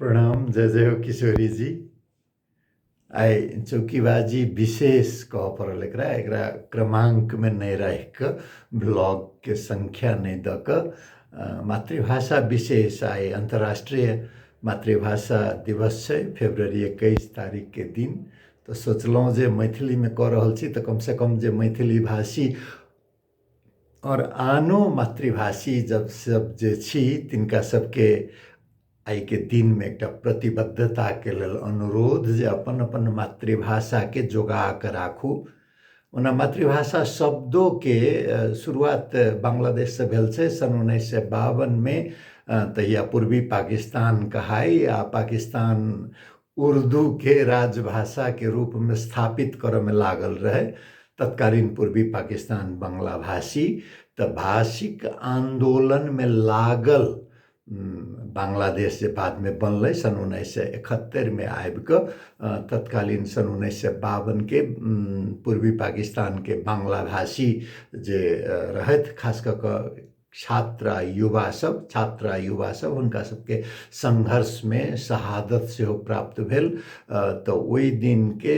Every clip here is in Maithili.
प्रणाम जय जय हो किशोरी जी आइ चौकीबाजी विशेष कह पड़ल एकरा एकरा क्रमांक में नहीं रह के ब्लॉग के संख्या नहीं द के मातृभाषा विशेष आइ अंतर्राष्ट्रीय मातृभाषा दिवस है फेब्रुवरी इक्कीस तारीख के दिन तो सोचलों जे मैथिली में कह रहल छी तो कम से कम जे मैथिली भाषी आओर आनो मातृभाषी जब सब जे छी तिनका सबके आइके दिनमे एकटा प्रतिबद्धताके लेल अनुरोध जे अपन अपन मातृभाषाके जोगा कऽ राखू ओना मातृभाषा शब्दोके शुरुआत बांग्लादेशसँ भेल छै सन् उन्नैस सए बावनमे तहिया पूर्वी पाकिस्तान कहाइ आ पाकिस्तान उर्दू के राजभाषा के रूप में स्थापित करऽ में लागल रहे तत्कालीन पूर्वी पाकिस्तान बंगला भाषी त भाषिक आंदोलन में लागल बांग्लादेश जे बाद में बनल सन उन्नैस सए एकहत्तरि में आबि कऽ तत्कालीन सन उन्नैस सए बावन के पूर्वी पाकिस्तान के बांग्ला भाषी जे रहथि खास कऽ कऽ छात्र आ युवा सब छात्र आ युवा सब हुनका सबके संघर्ष में शहादत से हो प्राप्त भेल तो ओई दिन के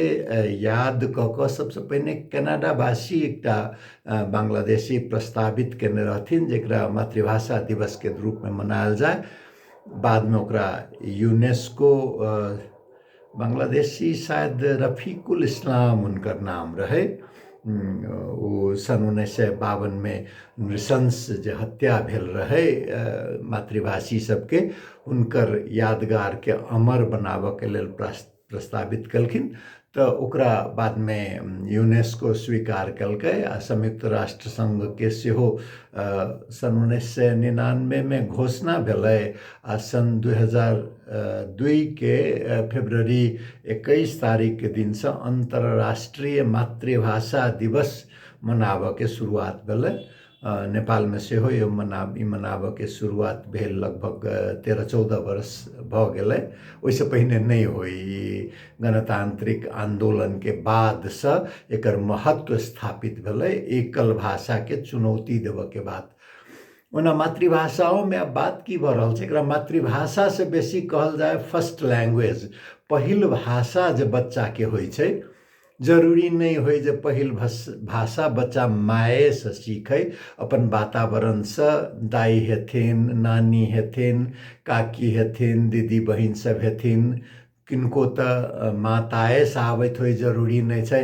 याद क क सबसे पहले कनाडा वासी एकटा बांग्लादेशी प्रस्तावित केने रहथिन जेकरा मातृभाषा दिवस के रूप में मनायल जाय बाद में ओकरा यूनेस्को बांग्लादेशी शायद रफीकुल इस्लाम हुनकर नाम रहै ओ सन् उन्नैस सय बावनमे नृशंस जे हत्या भेल रहै मातृभाषी सबके हुनकर यादगारके अमर बनाबऽके लेल प्रस्तावित केलखिन तऽ ओकरा बादमे यूनेस्को स्वीकार केलकै आ संयुक्त राष्ट्र संघके सेहो सन् उन्नैस सय निनानबेमे घोषणा भेलै आ सन् दुई हजार दुईके फेब्रुअरी एकैस तारिकके दिनसँ अन्तर्राष्ट्रिय मातृभाषा दिवस मनाबऽके सुरुआत भेलै नेपालमे सेहो यो मना ई मनाबऽके सुरुआत भेल लगभग तेरह चौदह वर्ष भऽ गेलै ओहिसँ पहिने नहि होइ ई गणतान्त्रिक आन्दोलनके बादसँ एकर महत्व स्थापित भेलै एकल भाषाके चुनौती देबऽके बात ओना मातृभाषाओमे आब बात की भऽ रहल छै एकरा मातृभाषासँ बेसी कहल जाय फर्स्ट लैंग्वेज पहिल भाषा जे बच्चाके होइ छै जरूरी नहि होइ जे पहिल भस भाषा बच्चा मायेसँ सीखय अपन वातावरणसँ दाइ हेथिन नानी हेथिन काकी हेथिन दीदी बहिन सभ हेथिन किनको तऽ माताएसँ आबैत होइ जरूरी नहि छै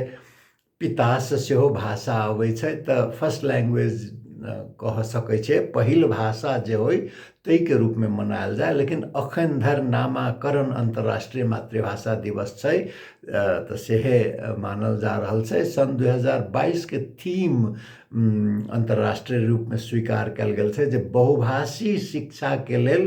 पितासँ सेहो भाषा अबै छै तऽ फर्स्ट लैंग्वेज कह सकै छै पहिल भाषा जे होइ ताहिके रूपमे मनायल जाय लेकिन अखन धरि नामाकरण अन्तर्राष्ट्रीय मातृभाषा दिवस छै तऽ सेहे मानल जा रहल छै सन दू हजार बाइसके थीम अन्तर्राष्ट्रीय रूपमे स्वीकार कयल गेल छै जे बहुभाषी शिक्षाके लेल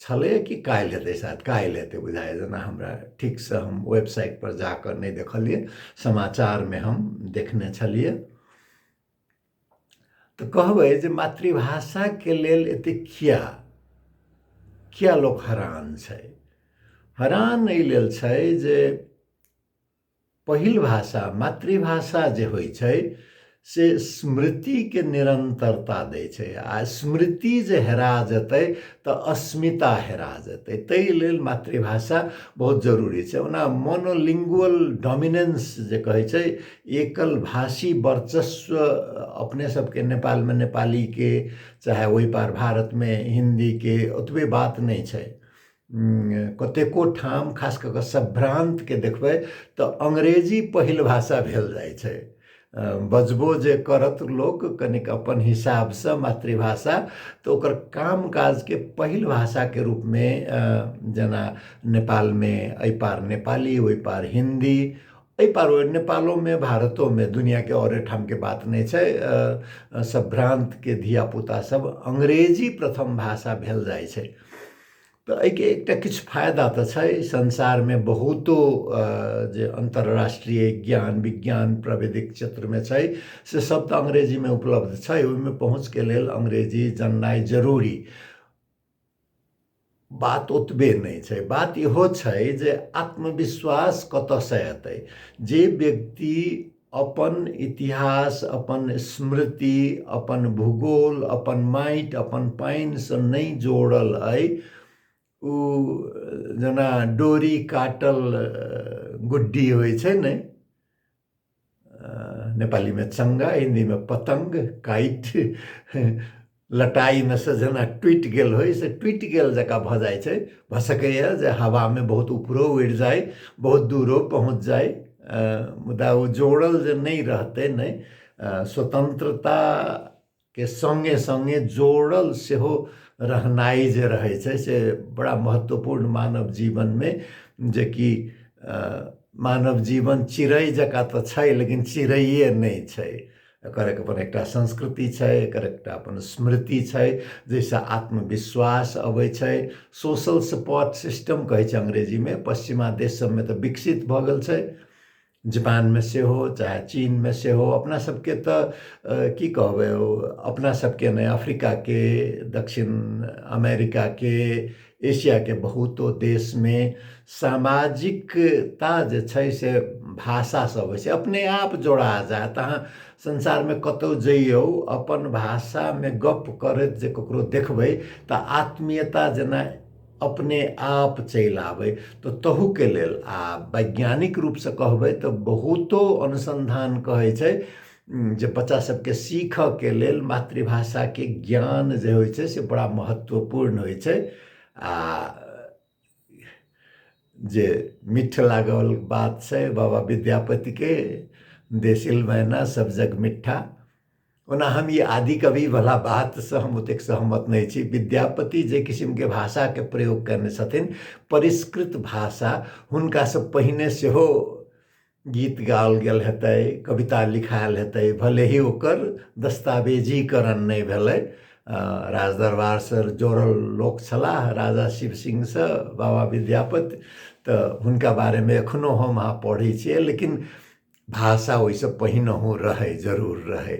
छलैए कि काल्हि हेतै शायद काल्हि हेतै बुझाइए जेना हमरा ठीकसँ हम वेबसाइटपर जा कऽ नहि देखलियै समाचारमे हम देखने छलियै तऽ कहबै जे मातृभाषाके लेल एतेक किया किया लोक हरान छै हरान एहि लेल छै जे पहिल भाषा मातृभाषा जे होइ छै से स्मृतिके निरन्तरता दै छै आ स्मृति जे हेरा जेतै तऽ अस्मिता हेरा जेतै ताहि लेल मातृभाषा बहुत जरूरी छै ओना मोनोलिंगुअल डोमिनेंस जे कहै छै एकल भाषी वर्चस्व अपने सबके नेपालमे नेपालीके चाहे ओहि पार भारतमे हिन्दीके ओतबे बात नहि छै कतेको ठाम खास कऽ कऽ सभ्रान्तके देखबै तऽ अंग्रेजी पहिल भाषा भेल जाइ छै बजबो जे करत लोक कनिक अपन हिसाबसँ मातृभाषा तऽ ओकर काम काजके पहिल भाषाके रूपमे जेना नेपालमे एहि पार नेपाली ओहि पार हिन्दी एहि पार ओहि नेपालोमे भारतोमे दुनिआँके आओर ठामके बात नहि छै सभ्रान्तके धियापुतासभ अंग्रेजी प्रथम भाषा भेल जाइ छै तऽ एहिके एकटा किछु फायदा तऽ छै संसारमे बहुतो जे अन्तर्राष्ट्रीय ज्ञान विज्ञान प्राविधिक क्षेत्रमे छै से सब तऽ अंग्रेजीमे उपलब्ध छै ओहिमे पहुँचके लेल अंग्रेजी जाननाइ जरूरी बात ओतबे नहि छै बात इहो छै जे आत्मविश्वास कतऽसँ एतै जे व्यक्ति अपन इतिहास अपन स्मृति अपन भूगोल अपन माटि अपन पानिसँ नहि जोड़ल अइ ओ जेना डोरी काटल गुड्डी होइ छै ने नेपालीमे चङ्गा हिन्दीमे पतङ्ग काटि लटाइमे से जेना टुटि गेल होइ से टुटि गेल जकाँ भऽ जाइ छै भऽ सकैए जे हवामे बहुत उपरो उड़ि जाइ बहुत दूरो पहुँच जाइ मुदा ओ जोड़ल जे नहि रहतै नहि स्वतन्त्रताके सङ्गे सङ्गे जोड़ल सेहो रहनाइ जे रहै छै से बड़ा महत्वपूर्ण मानव जीवनमे जेकि मानव जीवन चिड़ै जकाँ तऽ छै लेकिन चिड़ैए नहि छै एकर अपन एकटा संस्कृति छै एकर एकटा अपन स्मृति छै जाहिसँ आत्मविश्वास अबै छै सोशल सपोर्ट सिस्टम कहै छै अंग्रेजीमे पश्चिमा देश सभमे तऽ विकसित भऽ गेल छै जापानमे सेहो चाहे चीनमे सेहो अपना सभके तऽ की कहबै ओ अपना सभके नहि अफ्रीकाके दक्षिण अमेरिकाके एशियाके बहुतो देशमे सामाजिकता जे छै से भाषासँ होइ छै अपने आप जोड़ा जायत अहाँ संसारमे कतहु जइयौ अपन भाषामे गप्प करैत जे ककरो देखबै तऽ आत्मीयता जेना अपने आप चलि आबै तऽ तहूके लेल आ वैज्ञानिक रूपसँ कहबै तऽ बहुतो अनुसन्धान कहै छै जे बच्चा सबके सीखऽ के लेल मातृभाषा के ज्ञान जे होइ छै से बड़ा महत्वपूर्ण होइ छै आ जे मिठ लागल बात छै बाबा विद्यापति के देसिल मैना सब जग मिठा ओना हम ई आदि कवि वाला बात से हम ओतेक सहमत नहि छी विद्यापति जे किसिम के भाषा के प्रयोग कयने छथिन परिष्कृत भाषा हुनका से पहिने सेहो गीत गाओल गेल हेतै कविता लिखायल हेतै भले ही ओकर दस्तावेजीकरण नहि भेलै राजदरबारसँ जोड़ल लोक छलाह राजा शिव सिंहसँ बाबा विद्यापति तऽ हुनका बारेमे एखनो हम अहाँ पढ़ै छियै लेकिन भाषा ओहिसँ पहिनहु रहै जरूर रहै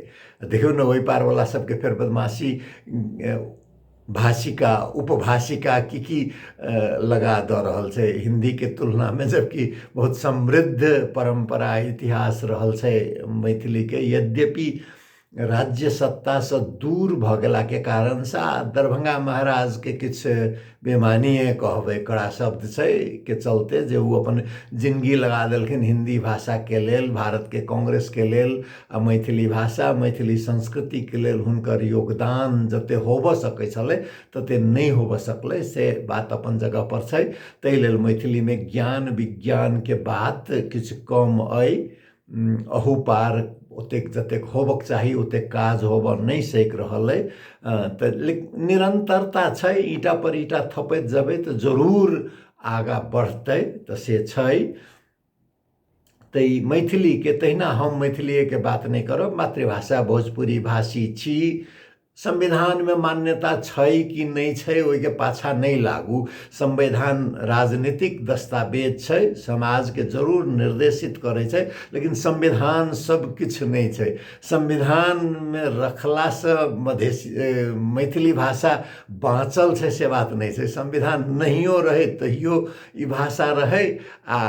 देखियौ ने ओहि पारवला सभके फेर बदमाशी भाषिका उपभाषिका की की लगा दऽ रहल छै हिन्दीके तुलनामे जबकि बहुत समृद्ध परम्परा इतिहास रहल छै मैथिलीके यद्यपि राज्य सत्तासँ दूर भऽ गेलाके कारणसँ आ दरभंगा महाराजके किछु बेमानिए कहबै कड़ा शब्द छै के चलते जे ओ अपन जिनगी लगा देलखिन हिन्दी भाषाके लेल भारतके कांग्रेसके लेल आ मैथिली भाषा मैथिली संस्कृतिके लेल हुनकर योगदान जते होबऽ सकै छलै तते नहि होबऽ सकलै से बात अपन जगह पर छै ताहि लेल मैथिलीमे ज्ञान विज्ञानके बात किछु कम अइ अहू पार ओतेक जतेक होबक चाही ओतेक काज होबऽ नहि सकि रहल अइ तऽ निरंतरता छै ईटा पर ईटा थपैत जेबै तऽ जरूर आगाँ बढ़तै तऽ से छै तऽ ई मैथिलीके तहिना हम मैथिलिएके बात नहि करब मातृभाषा भोजपुरी भाषी छी संविधानमे मान्यता छै कि नहि छै ओहिके पाछाँ नहि लागू संविधान राजनीतिक दस्तावेज छै समाजके जरूर निर्देशित करै छै लेकिन संविधान सब किछु नहि छै संविधानमे रखलासँ मधेश मैथिली भाषा बाँचल छै से बात नहि छै संविधान नहियो रहै तहियो ई भाषा रहै आ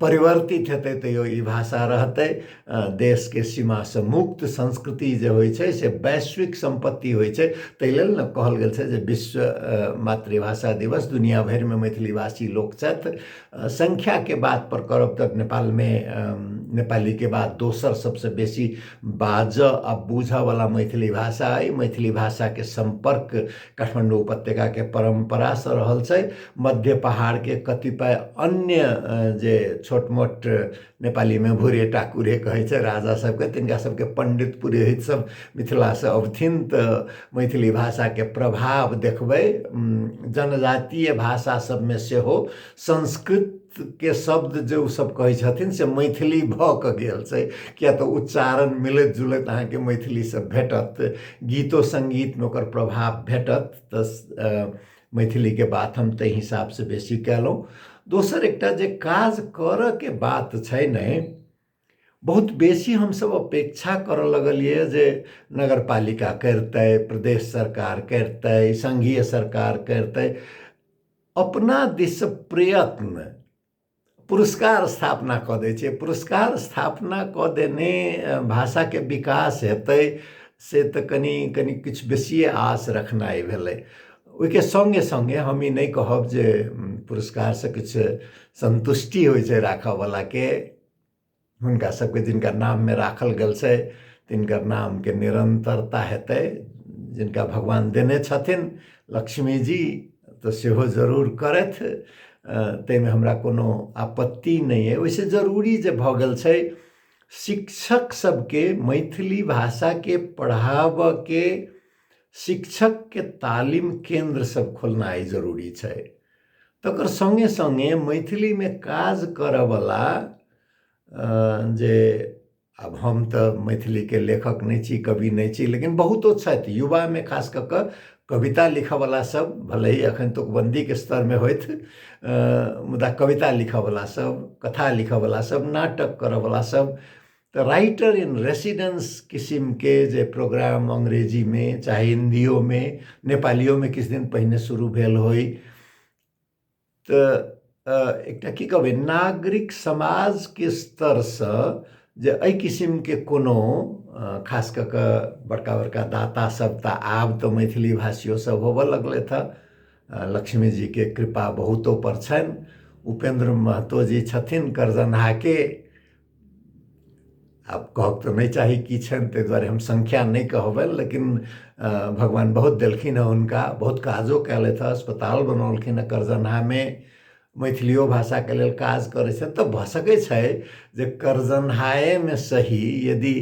परिवर्तित हेतै तैयो ई भाषा रहतै देशके सीमासँ मुक्त संस्कृति जे होइ छै से वैश्विक सम्पत्ति होइ छै ताहि लेल ने कहल गेल छै जे विश्व मातृभाषा दिवस दुनिया भरिमे मैथिली भाषी लोक छथि सङ्ख्याके बात पर करब तऽ नेपालमे नेपालीके बाद दोसर सबसँ बेसी बाजऽ आ बुझऽवला मैथिली भाषा अइ मैथिली भाषाके सम्पर्क काठमाडौँ उपत्यकाके परम्परासँ रहल छै मध्य पहाड़के कतिपय अन्य जे छोट मोट नेपालीमे भुरे टाकुरे कहै छै राजा सबके तिनका सबके पण्डित पुरोहित सब मिथिलासँ अबथिन तऽ मैथिली भाषाके प्रभाव देखबै जनजातीय भाषा सबमे सेहो संस्कृत के शब्द जे ओसभ कहै छथिन से मैथिली भऽ कऽ गेल छै किएक तऽ उच्चारण मिलैत जुलैत अहाँके मैथिलीसँ भेटत गीतो सङ्गीतमे ओकर प्रभाव भेटत तऽ मैथिलीके बात हम ताहि हिसाबसँ बेसी कयलहुँ दोसर एकटा जे काज करयके बात छै ने बहुत बेसी हमसभ अपेक्षा करऽ लगलियै जे नगर पालिका करितै प्रदेश सरकार करितै संघीय सरकार करितै अपना दिस प्रयत्न पुरस्कार स्थापना कऽ दै छै पुरस्कार स्थापना कऽ देने भाषाके विकास हेतै से तऽ कनि कनि किछु बेसिए आस रखनाइ भेलै ओहिके सङ्गे सङ्गे हम ई नहि कहब जे पुरस्कारसँ किछु सन्तुष्टि होइ छै राखयवलाके हुनका सबके जिनकर नाममे राखल गेल छै तिनकर नामके निरन्तरता हेतै जिनका भगवान देने छथिन लक्ष्मी जी तऽ सेहो जरूर करथि ताहिमे हमरा कोनो आपत्ति नहि अइ ओहिसँ जरूरी जे भऽ गेल छै शिक्षक सबके मैथिली भाषाके पढ़ाबऽके शिक्षकके तालीम केन्द्र सब खोलनाइ जरूरी छै तकर सङ्गे सङ्गे मैथिलीमे काज करऽवला जे आब हम तऽ मैथिलीके लेखक नहि छी कवि नहि छी लेकिन बहुतो छथि युवामे खास कऽ कऽ कविता लिखऽवला सब भले ही एखन तुकबन्दीके स्तरमे होथि मुदा कविता लिखऽवला सब कथा लिखऽवला सब नाटक करऽवला सब तऽ राइटर इन रेसिडेंस किसिमके जे प्रोग्राम अंग्रेजीमे चाहे हिन्दियोमे नेपालियोमे किछु दिन पहिने शुरू भेल होइ तऽ एकटा की कहबै नागरिक समाजके स्तरसँ जे एहि किसिमके कोनो खास कऽ कऽ बड़का बड़का दाता सब तऽ आब तऽ मैथिली भाषियो सब होबऽ लगलथि हँ लक्ष्मी जीके कृपा बहुतो पर छनि उपेन्द्र महतो जी छथिन करजनहाके आब कहब तऽ नहि चाही की छनि ताहि दुआरे हम संख्या नहि कहबनि लेकिन भगवान बहुत देलखिन हेँ हुनका बहुत काजो कयलथि हेँ अस्पताल बनौलखिन हेँ करजनहामे मैथिलियो भाषाके लेल काज करै छथि तऽ भऽ सकै छै जे करजनहाएमे सही यदि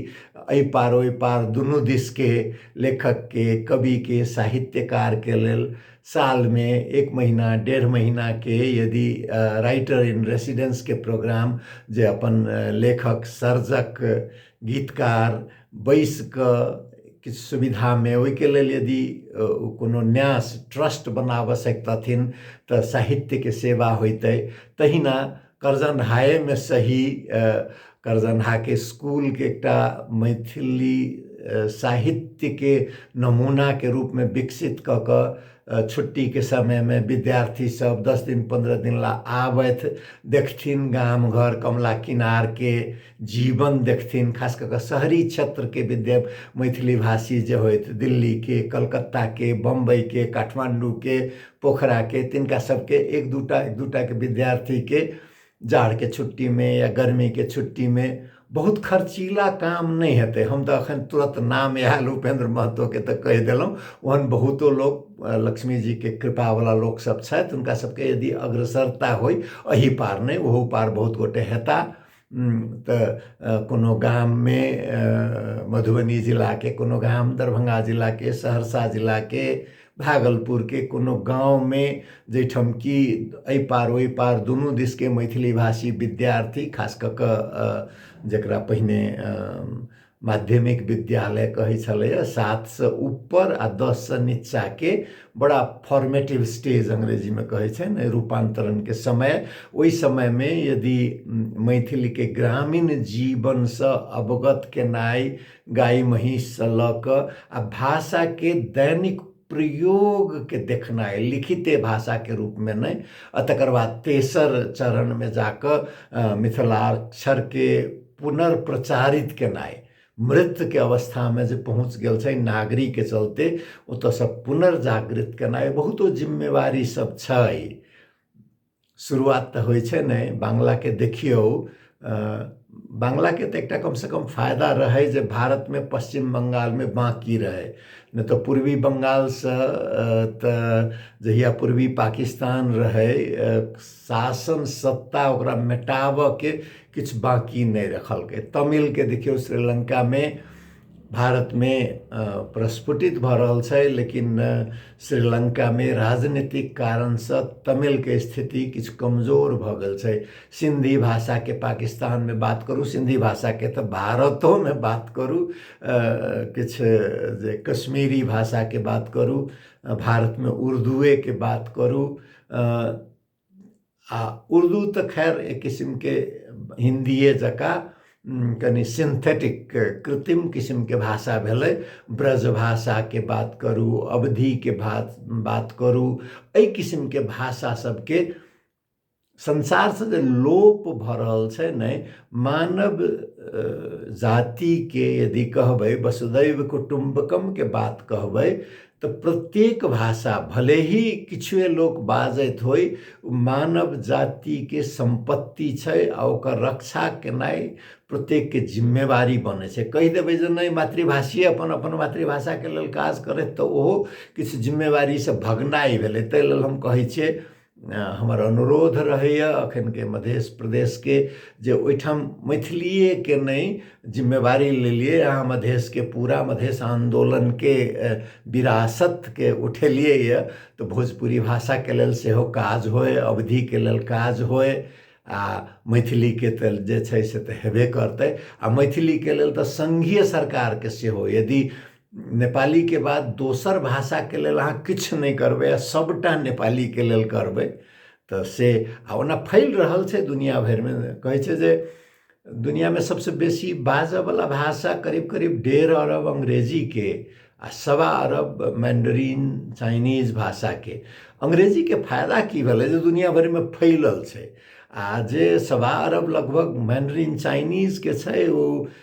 एहि पार ओहि पार दुनू दिसके लेखकके कविके साहित्यकारके लेल सालमे एक महिना डेढ़ महिनाके यदि राइटर इन रेसिडेन्सके प्रोग्राम जे अपन लेखक सर्जक गीतकार बैसिकऽ किछु सुविधामे ओहिके लेल यदि कोनो न्यास ट्रस्ट बनाबऽ सकितथिन तऽ साहित्यके सेवा होइतै तहिना करजनहाएमे सही करजनहाके स्कूलके एकटा मैथिली साहित्यके नमूनाके रूपमे विकसित कऽ कऽ छुट्टीके समयमे विद्यार्थीसभ दस दिन पन्द्रह दिन लेल आबथि देखथिन गाम घर कमला किनारके जीवन देखथिन खास कऽ कऽ शहरी क्षेत्रके विद्या मैथिली भाषी जे होइत दिल्लीके कलकत्ताके बम्बइके काठमाण्डूके पोखराके तिनका सबके एक दूटा एक दूटाके विद्यार्थीके जाड़के छुट्टीमे या गर्मीके छुट्टीमे बहुत खर्चीला काम नहि हेतै हम तऽ एखन तुरत नाम आयल उपेन्द्र महतोके तऽ कहि देलहुँ ओहन बहुतो लोक लक्ष्मीजीके कृपावला लोकसभ छथि हुनका सभके यदि अग्रसरता होइ एहि पार नहि ओहू पार बहुत गोटे हेताह तऽ कोनो गाममे मधुबनी जिलाके कोनो गाम दरभंगा जिलाके सहरसा जिलाके भागलपुरके कोनो गाँवमे जाहि ठाम कि एहि पार ओहि पार दुनू दिशके मैथिलीभाषी विद्यार्थी खास कऽ कऽ जकरा पहिने माध्यमिक विद्यालय कहै छलैए सातसँ ऊपर आ दससँ नीचाँके बड़ा फॉर्मेटिव स्टेज अंग्रेजीमे कहै छनि रूपान्तरणके समय ओहि समयमे यदि मैथिलीके ग्रामीण जीवनसँ अवगत केनाइ गाय महीँससँ लऽ कऽ आ भाषाके दैनिक प्रयोगके देखनाइ लिखिते भाषाके रूपमे नहि आ तकर बाद तेसर चरणमे जा कऽ मिथिलाक्षरके पुनर्प्रचारित केनाइ मृत्युके अवस्थामे जे पहुँच गेल छै नागरीके चलते ओतऽसँ पुनर्जागृत केनाइ बहुतो जिम्मेवारी सब छै शुरुआत तऽ होइ छै नहि बांग्लाके देखियौ बांग्लाके तऽ एकटा कमसँ कम फायदा रहै जे भारतमे पश्चिम बंगालमे बाँकी रहै नहि तऽ पूर्वी बंगालसँ तऽ जहिया पूर्वी पाकिस्तान रहै शासन सत्ता ओकरा मेटाबऽके किछु बाकी नहि रखलकै तमिलके देखियौ श्रीलङ्कामे भारतमे प्रस्फुटित भऽ रहल छै लेकिन श्रीलङ्कामे राजनीतिक कारणसँ तमिलके स्थिति किछु कमजोर भऽ गेल छै सिन्धी भाषाके पाकिस्तानमे बात करू सिन्धी भाषाके तऽ भारतोमे बात करू किछु जे कश्मीरी भाषाके बात करू भारतमे उर्दुएके बात करू आ उर्दू तऽ खैर एक किसिमके हिन्दिए जकाँ कनि सिन्थेटिक कृत्रिम किसिमके भाषा भेलै ब्रज भाषाके बात करू अवधिके भा बात करू एहि किसिमके भाषा सभके संसारसँ जे लोप भऽ रहल छै ने मानव जातिके यदि कहबै वसुदैव कुटुम्बकमके बात कहबै तऽ प्रत्येक भाषा भले ही किछुए लोक बाजैत होइ मानव जातिके सम्पत्ति छै आ ओकर रक्षा केनाइ प्रत्येकके जिम्मेवारी बनै छै कहि देबै जे नहि मातृभाषिए अपन अपन मातृभाषाके लेल काज करथि तऽ ओहो किछु जिम्मेवारीसँ भगनाइ भेलै ताहि लेल हम कहै छियै हमर अनुरोध रहैए एखनके मध्य प्रदेशके जे ओहिठाम मैथिलिएके नहि जिम्मेवारी लेलिए अहाँ मधेशके पूरा मधेश आन्दोलनके विरासतके उठेलिए यऽ तऽ भोजपुरी भाषाके लेल सेहो काज होइ अवधिके लेल काज होइ आ मैथिलीके तऽ जे छै से तऽ हेबे करतै आ मैथिलीके लेल तऽ सङ्घीय सरकारके सेहो यदि नेपालीके बाद दोसर भाषाके लेल अहाँ किछु नहि करबै आ सभटा नेपालीके लेल करबै तऽ से आ ओना फैल रहल छै दुनिया भरिमे कहै छै जे दुनियामे सभसँ बेसी बाजयवला भाषा करीब करीब डेढ़ अरब अंग्रेजीके आ सवा अरब मैंडरीन चाइनीज भाषाके अंग्रेजीके फायदा की भेलै जे दुनिया भरिमे फैलल छै आ जे सवा अरब लगभग मैंडरीन चाइनीजके छै ओ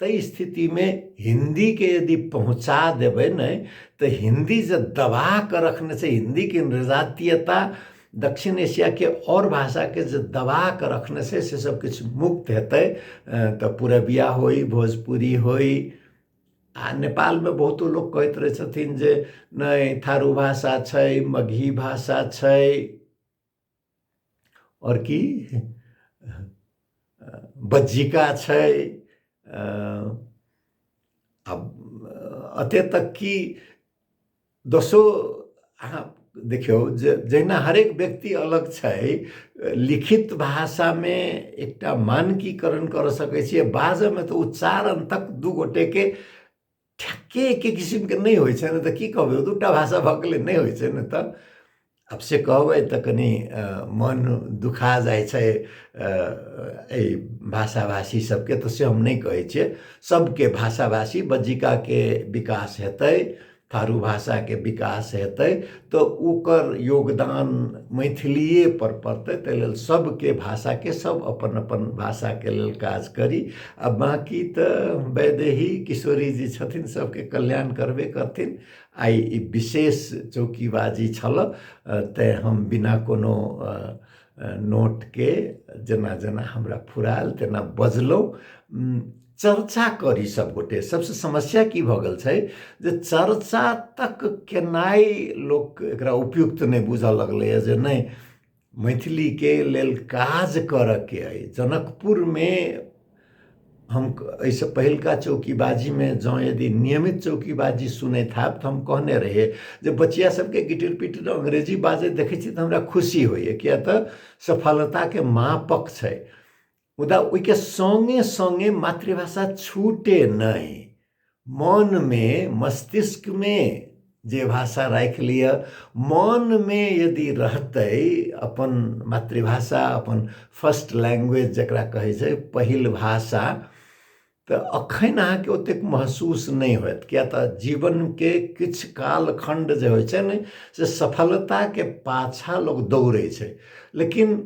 ताहि स्थितिमे हिन्दीके यदि पहुँचा देबै नहि तऽ हिन्दी जे दबा कऽ रखने छै हिन्दीके निर्जातीयता दक्षिण एशियाके आओर भाषाके जे दबा कऽ रखने छै से सब किछु मुक्त हेतै तऽ पुरबिया होइ भोजपुरी होइ आ नेपालमे बहुतो लोक कहैत रहै छथिन जे नहि थारू भाषा छै मगही भाषा छै आओर की बज्जिका छै आ एते तक कि दोसो अहाँ देखियौ जे जहिना हरेक व्यक्ति अलग छै लिखित भाषामे एकटा मानकीकरण करऽ सकै छियै बाजयमे तऽ उच्चारण तक दू गोटेके ठ्याक्कै एकै किसिमके नै होइ छैन त के कहबै दुईवटा भाषा भएकोले नै होइ छैन त अब से कहबै त कनि मन दुखा जाइ छै एहि भाषा भाषी सबके तऽ से हम नहि कहै छियै सबके भाषा भाषी बज्जिकाके विकास हेतै थारू भाषाके विकास हेतै तऽ ओकर योगदान मैथिलिए पर पड़तै ताहि लेल सभके भाषाके सभ अपन अपन भाषाके लेल काज करी आ बाँकी तऽ वैदेही किशोरी जी छथिन सभके कल्याण करबे करथिन आइ ई विशेष चौकीबाजी छलऽ तैँ हम बिना कोनो नोटके जेना जेना हमरा फुरायल तेना बजलहुँ चर्चा करी सब गोटे सबसे समस्या की भ गेल छै जे चर्चा तक केनाइ लोक एकरा उपयुक्त नहि बुझऽ लगलैए जे नहि मैथिलीके लेल काज करऽके अइ जनकपुरमे हम एहिसँ पहिलका चौकीबाजीमे जँ यदि नियमित चौकीबाजी सुनैत हैब तऽ हम कहने रहियै जे बचिया सभके गिटिर पिटिर अंग्रेजी बाजैत देखै छी तऽ हमरा खुशी होइए किया तऽ सफलताके मापक छै मुदा ओहिके सङ्गे सङ्गे मातृभाषा छूटे नहि मनमे मस्तिष्कमे जे भाषा राखि लिअ मनमे यदि रहतै अपन मातृभाषा अपन फर्स्ट लैंग्वेज जकरा कहै छै पहिल भाषा तऽ अखन अहाँके ओतेक महसूस नहि होयत किया तऽ जीवनके किछु कालखंड जे होइ छै ने से सफलताके पाछा लोक दौड़ै छै लेकिन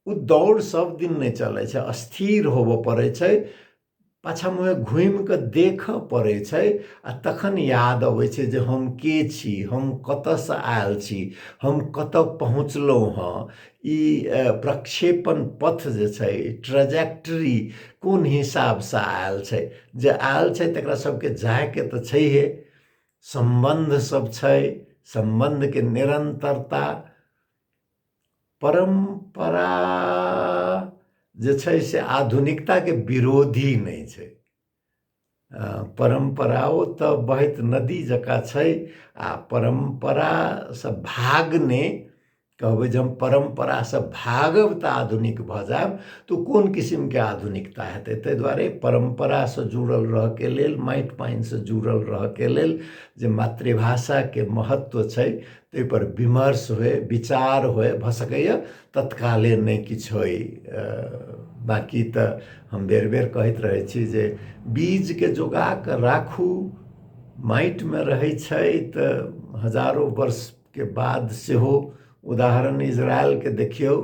ओ दौड़ सब दिन नहि चलै छै स्थिर होबऽ पड़ै छै पाछा मुँहे घुमि कऽ देखऽ पड़ै छै आ तखन याद अबै छै जे हम के छी हम कतऽसँ आयल छी हम कतऽ पहुँचलहुँ हँ ई प्रक्षेपण पथ जे छै ट्रजेक्ट्री कोन हिसाबसँ आयल छै जे आयल छै तकरा सबके जायके तऽ छैहे सम्बन्ध सब छै सम्बन्धके निरन्तरता परम्परा जे छै से आधुनिकताके विरोधी नहि छै परम्पराओ तऽ बहैत नदी जकाँ छै आ परम्परासँ भागने कहबै जे हम परम्परासँ भागब तऽ आधुनिक भऽ जायब तऽ कोन किसिमके आधुनिकता हेतै ताहि दुआरे परम्परासँ जुड़ल रहऽके लेल माटि पानिसँ जुड़ल रहऽके लेल जे मातृभाषाके महत्व छै ताहिपर विमर्श होय विचार होय भऽ सकैए तत्काले नहि किछु होय बाँकी तऽ हम बेर बेर कहैत रहै छी जे बीजके जोगा कऽ राखू माटिमे रहै छै तऽ हजारो वर्षके बाद सेहो उदाहरण इजरायलके देखियौ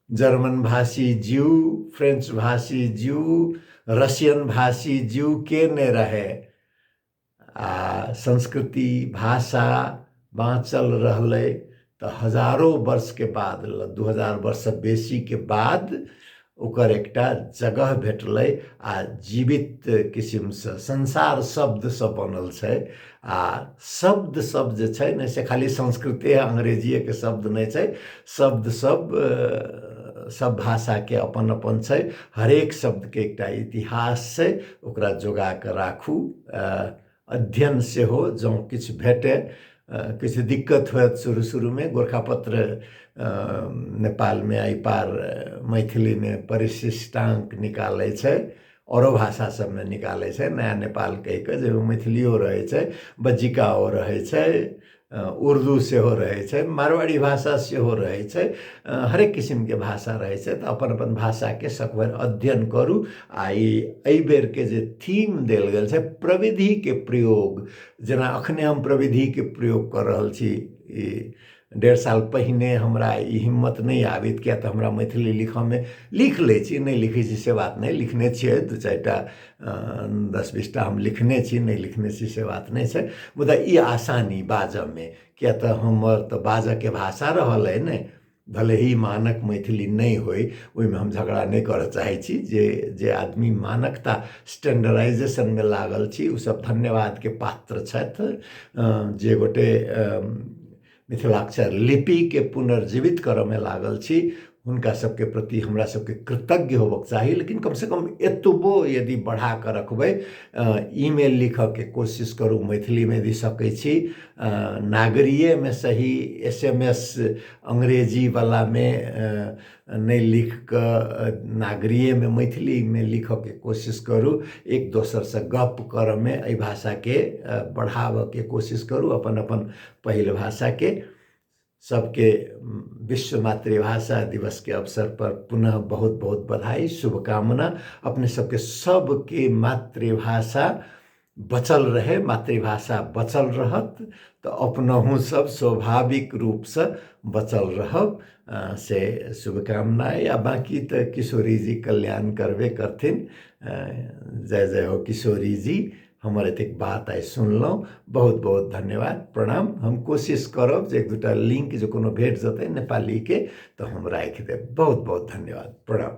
जर्मन भाषी जीव फ्रेंच भाषी जीव रशियन भाषी जीव के नहि रहै आ संस्कृति भाषा बाँचल रहलै तऽ हजारो वर्षके बाद दू हजार वर्षसँ बेसीके बाद ओकर एकटा जगह भेटलै आ जीवित किसिमसँ संसार शब्दसँ बनल छै आ शब्द सब जे छै ने से खाली संस्कृते अंग्रेजिएके शब्द नहि छै शब्द सब सब भाषाके अपन अपन छै हरेक शब्दके एकटा इतिहास छै तऽ ओकरा जोगा कऽ राखू आ अध्ययन सेहो जँ किछु भेटय किछु दिक्कत होयत शुरू शुरूमे गोरखा पत्र नेपालमे एहि पार मैथिलीमे परिशिष्टांक निकालै छै आओरो भाषा सभमे निकालै छै नया नेपाल कहि कऽ जाहिमे मैथिलिओ रहै छै बज्जिकाओ रहै छै उर्दू सेहो रहै छै मारवाड़ी भाषा सेहो रहै छै हरेक किसिमके भाषा रहै छै तऽ अपन अपन भाषाके सकभर अध्ययन करू आ ई एहि बेरके जे थीम देल गेल छै प्रविधिके प्रयोग जेना अखने हम प्रविधिके प्रयोग कऽ रहल छी ई डेढ़ साल पहिने हमरा ई हिम्मत नहि आबैत किएक तऽ हमरा मैथिली लिखऽमे लिख लै छी नहि लिखै छी से बात नहि लिखने छियै दू चारि टा दस बीसटा हम लिखने छी नहि लिखने छी से बात नहि छै मुदा ई आसानी बाजयमे किएक तऽ हमर तऽ बाजयके भाषा रहल अइ ने भले ही मानक मैथिली नहि होय ओहिमे हम झगड़ा नहि करय चाहै छी जे जे आदमी मानकता स्टैंडर्डाइजेशनमे लागल छी ओसभ धन्यवादके पात्र छथि जे गोटए मिथिलाक्षर लिपिके पुनर्जीवित करऽमे लागल छी हुनका सबके प्रति हमरा सबके कृतज्ञ होबक चाही लेकिन कमसँ कम एतबो यदि बढ़ाकऽ रखबै ईमेल लिखऽके कोशिश करू मैथिलीमे यदि सकै छी नागरियेमे सही एस एम एस अंग्रेजीवलामे नहि लिख कऽ नागरिएमे मैथिलीमे लिखयके कोशिश करू एक दोसरसँ गप्प करयमे एहि भाषाकेँ बढ़ाबयके कोशिश करू अपन अपन पहिल भाषाकेँ सभके विश्व मातृभाषा दिवसके अवसरपर पुनः बहुत बहुत बधाइ शुभकामना अपने सभके सभके मातृभाषा बचल रहै मातृभाषा बचल रहत तऽ अपनहु सब स्वाभाविक रूपसँ बचल रहब से शुभकामना अइ आओर बाकी तऽ किशोरी जी कल्याण करबे करथिन जय जय हो किशोरी जी हमर एतेक बात आइ सुनलहुँ बहुत बहुत धन्यवाद प्रणाम हम कोशिश करब जे एक दूटा लिंक जे कोनो भेट जेतै नेपालीके तऽ हम राखि देब बहुत बहुत धन्यवाद प्रणाम